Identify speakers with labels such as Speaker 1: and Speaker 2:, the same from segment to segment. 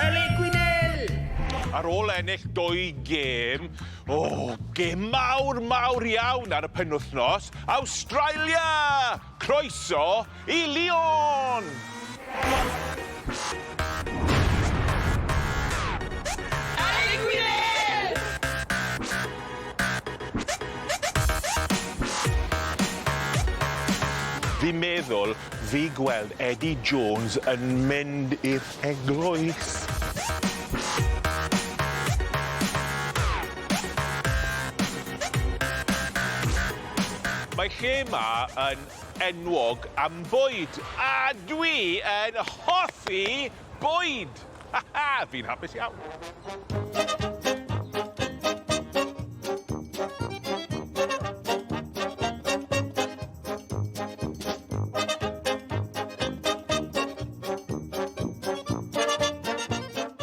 Speaker 1: Elin Gwynel! Ar ôl ennill dwy gêm, o, oh, gêm mawr, mawr iawn ar y penwthnos, Awstralia! Croeso i Lyon!
Speaker 2: Fi'n
Speaker 1: meddwl Fi gweld Eddie Jones yn mynd i'r eglwys. Mae lle ma yn enwog am bwyd a dwi yn hoffi bwyd! Ha ha! Fi'n hapus iawn.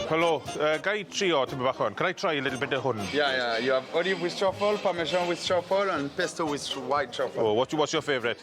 Speaker 1: Helo, yy ga i trio tipyn bach o hwn? Can I try a little bit o hwn? Yeah, yeah. You have olive
Speaker 3: with truffle, parmesan with truffle, and pesto with white truffle. Oh, what's your, what's your favourite?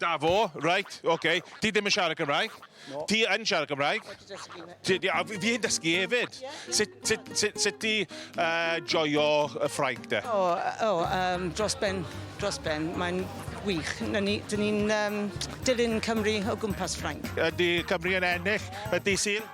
Speaker 1: Dafo,
Speaker 4: reit,
Speaker 1: oce. Ti ddim yn siarad Cymraeg? No. Ti yn siarad
Speaker 4: Cymraeg?
Speaker 1: Wedi dysgu na. Ti, a fi yn dysgu hefyd. Sut, sut, sut, sut ti uh, joio y ffrainc de? O, o um, dros
Speaker 5: ben, dros ben. Mae'n wych. Dyn ni, ni'n um, dilyn Cymru o gwmpas Ffrainc. Ydy Cymru yn
Speaker 1: ennill y dydd Sul?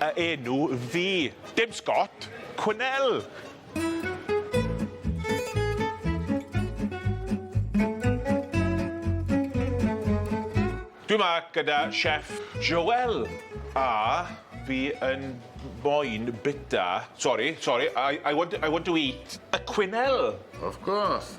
Speaker 1: Y enw fi. Dim Scott, Quinnell! Dwi 'ma gyda chef Joel a fi yn moyn bita, sori, sori, I I want I want to eat a Quinnell! Of course.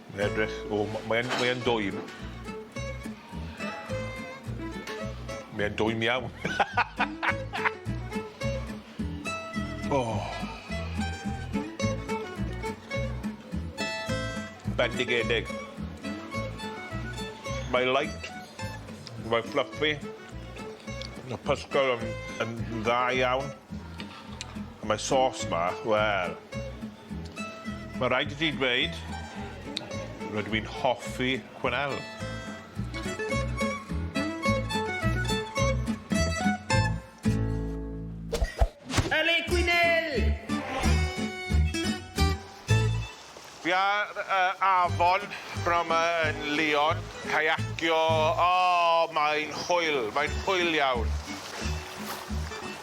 Speaker 1: Mae'n edrych... O, m- mae e'n mae e'n dwym. Mae e'n dwym iawn. O! Bendigedig. Mae light, mae fluffy, y pysgod yn yn dda iawn, a mae sauce 'ma, wel, Mae rhaid i ti dweud, rydw i'n hoffi Quennell.
Speaker 2: Yle Quennell!
Speaker 1: Fi ar y afon b'nawn 'ma yn Lyon, caiacio, o, mae'n hwyl, mae'n hwyl iawn.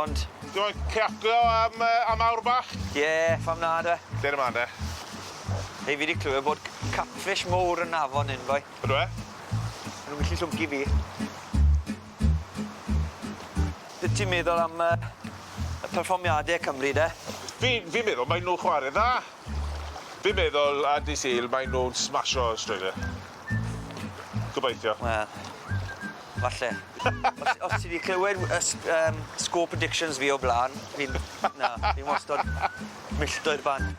Speaker 6: Ond... Ti moyn ciaco
Speaker 1: am yy am awr bach? Ie, pham na
Speaker 6: de? Lle ni mlan de? Hei fi 'di clywed bod c- catfish mowr yn afon hyn boi. Ydw e?
Speaker 1: Ma' nw'n gallu
Speaker 6: llwgu fi. Be' ti'n meddwl am yy y perfformiade Cymru de? Fi fi'n meddwl
Speaker 1: mae nw chware dda. Fi'n meddwl ar dy' Sul mae nw'n smasho Australia. Gobeithio. Wel,
Speaker 6: falle. Os os ti 'di clywed w- y s- yym sgôp addictions fi o bla'n, fi'n na, fi wastod milltir bant.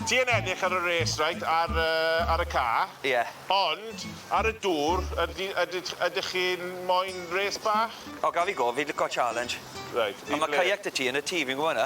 Speaker 1: Ti yn ennill ar y race reit ar yy ar y ca'. Ie. Ond ar y dŵr ydi ydych ydych chi'n moyn race bach? O gaf fi gofyn, fi lico
Speaker 6: challenge. Reit, i ble? On' ma'
Speaker 1: kayak 'dy ti yn
Speaker 6: y tŷ, fi'n gwbo wnna.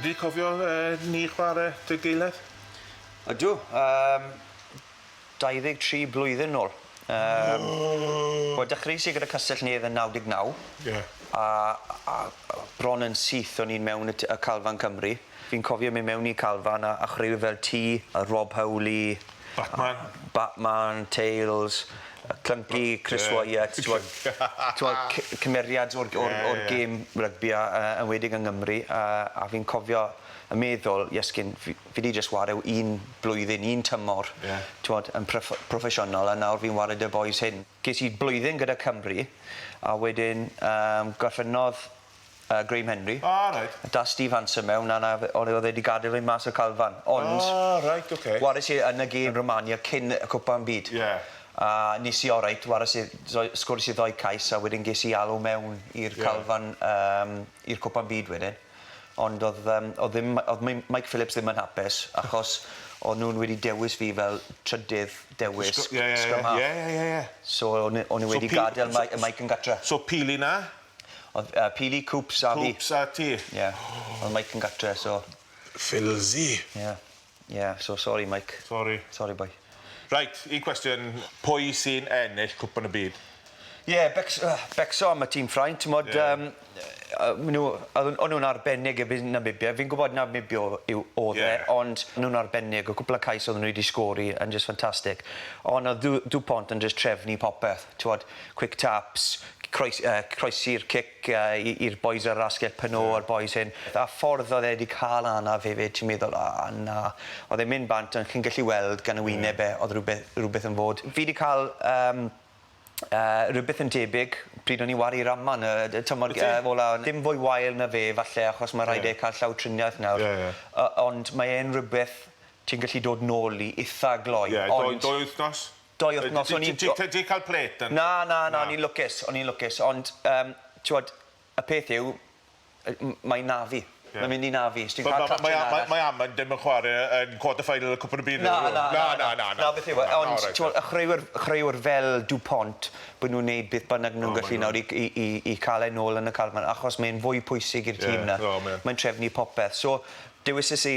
Speaker 1: Ydy, cofio yy ni chware 'da gilydd? Ydw,
Speaker 6: yym 23 blwyddyn nôl. Yym. O! Wel dechreuais i gyda Castell Nedd yn naw deg naw. Ie. A
Speaker 1: a
Speaker 6: a bron yn syth o'n i'n mewn y t- y Calfan Cymru. Fi'n cofio myn' mewn i Calfan a a chwreu fel Tŷ y Rob Howley, Batman? Batman, Tales, yy Clunky, Chris Wyatt t'mod t'mod cy- cymeriad o'r g- o'r o'r gêm rygbi a yy enwedig yng Ngymru a a fi'n cofio yn meddwl iesgyn fi fi 'di jyst ware w- un blwyddyn un tymor. Ie. T'mod yn proff- proffesiynol a nawr fi'n ware 'da bois hŷn. Ges i blwyddyn gyda Cymru a wedyn yym gorffennodd yy Graham Henry. O reit. Dath Steve
Speaker 1: Hansen
Speaker 6: mewn a 'na fe- o le o'dd e 'di gadel e mas o'r calfan ond... O reit oce.
Speaker 1: ...wares i yn y gêm
Speaker 6: Romania cyn y cwpan am byd. Ie. A
Speaker 1: nes i
Speaker 6: oreit wares i ddou- sgores i ddou cais a wedyn ges i alw mewn i'r... Ie. ...calfan yym i'r cwpan byd wedyn ond o'dd yym o'dd ddim my- o'dd Mim- Mike Phillips ddim yn hapus achos o'n nw'n wedi dewis fi fel trydydd dewis... Sgw- ie ie ie. ...scrum half. Ie ie ie ie. So o'n
Speaker 1: n- o'n nw
Speaker 6: wedi gadel Mike yy Mike yn gatre. So pili 'na?
Speaker 1: O'dd yy
Speaker 6: Pili, Coops a fi. Coops a ti? Ie.
Speaker 1: O'dd Mike
Speaker 6: yn gatre so... Ffilsi!
Speaker 1: Ie.
Speaker 6: Ie, so sori Mike. Sori. Sori boi. Reit, un
Speaker 1: cwestiwn, pwy sy'n ennill Cwpan y Byd? Ie, Becs-
Speaker 6: yy Becso am y tîm Ffrainc, t'mod... Ie. ...yym yy ma' nw yy o- o'n nw'n arbennig yy fi'n Namibia, fi'n gwbod Namibia o- yw o'dd e... Ie. ...ond o'n nw'n arbennig, y cwpwl o cais odden n'w 'di sgori yn jyst ffantastig, on' o'dd Du- Dupont yn jyst trefnu popeth, t'wod, quick taps, croes- yy croesi'r cic yy i i'r bois ar yr asgell peno a'r bois hyn a ffordd oedd e 'di ca'l anaf hefyd ti'n meddwl o na o'dd e'n mynd bant ond chi'n gallu weld gan y wyneb e o'dd rwbe- rwbeth yn fod. Fi 'di ca'l yym yy rwbeth yn debyg pryd o'n i'n wari'r aman yy d- t'mod... Wyt ti? ...yy ola on' dim fwy wael na fe falle achos ma' raid e ca'l llawdriniaeth nawr. Ie ie. O- ond mae e'n rwbeth ti'n gallu dod nôl i itha gloi ond... Ie dou dou wythnos? doi wythnos o'n i'n... Ti 'di cael plate yna?
Speaker 1: Na, na, na, o'n i'n lwcus,
Speaker 6: o'n i'n lwcus, ond yym t'wod y peth yw yy m- mae 'na fi. Ie. Mae'n mynd i 'na fi. Os ti'n cael Mae mae mae mae
Speaker 1: Amund ddim yn chware yn quarter final y Cwpan y Byd. Na na na. Na na na na. Na beth
Speaker 6: yw e ond t'mo' y chwaraewyr chwaraewyr fel Dupont bo' nw'n neud beth bynnag nw'n gallu nawr i i i i ca'l e nôl yn y achos mae'n fwy pwysig i'r tîm 'na. Ie. O mae yn. Mae'n trefnu popeth. So dewisis i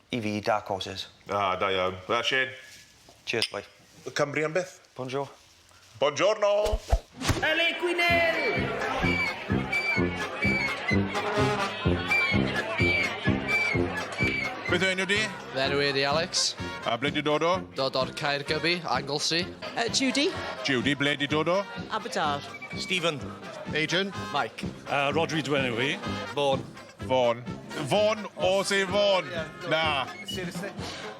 Speaker 6: I fi, dark horses. Ah, da iawn.
Speaker 1: Wel, Shane. Cheers, boi.
Speaker 6: Y Cymry am byth.
Speaker 1: Bonjour.
Speaker 6: Bongiorno!
Speaker 1: Pele Beth yw enw di? Fe enw i di Alex.
Speaker 7: A ble di dod o?
Speaker 1: Dod o'r Caer Gybi,
Speaker 7: Anglesey. Uh, Judy.
Speaker 5: Judy, ble di
Speaker 1: dod o? Aberdar.
Speaker 5: Stephen.
Speaker 7: Adrian.
Speaker 8: Mike. Uh,
Speaker 7: Rodri dwi enw i.
Speaker 8: Vaughan.
Speaker 7: Fôn.
Speaker 1: Fôn, o se fôn. Na. Seriously?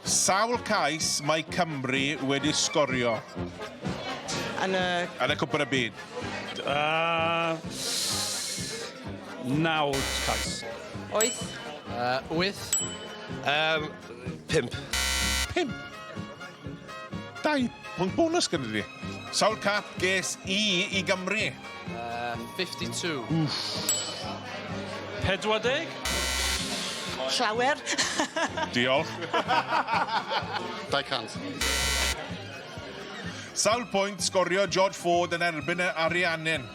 Speaker 1: Sawl cais mae Cymru wedi sgorio?
Speaker 5: Yn y... Yn y Cwpan
Speaker 1: y Byd. Uh,
Speaker 8: naw cais. Oes. Uh,
Speaker 5: wyth.
Speaker 7: Um,
Speaker 8: pimp. Pimp.
Speaker 1: Dau pwynt bonus gyda fi. Sawl cap ges i i Gymru? Uh,
Speaker 7: 52. Wff.
Speaker 8: 40?
Speaker 5: Llawer.
Speaker 1: Diolch.
Speaker 8: 200.
Speaker 1: Sawl pwynt sgorio George Ford yn erbyn y Ariannin?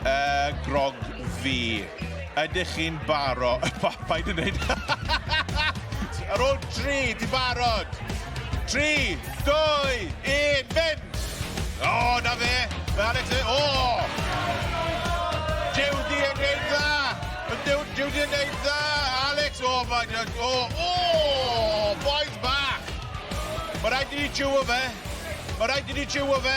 Speaker 1: Y grog fi. Ydych chi'n baro? Pa, paid yn neud. Ar ôl tri, di barod. Tri, dwy, un, mynd! O, oh, na fe. Mae Alex yn... O! Oh! Jewdi yn neud dda. Jewdi yn neud dda. Alex, o, oh, mae'n... O, oh, o! Oh, boys back. Mae rhaid i ni jiwo fe. Mae rhaid i ni jiwo fe.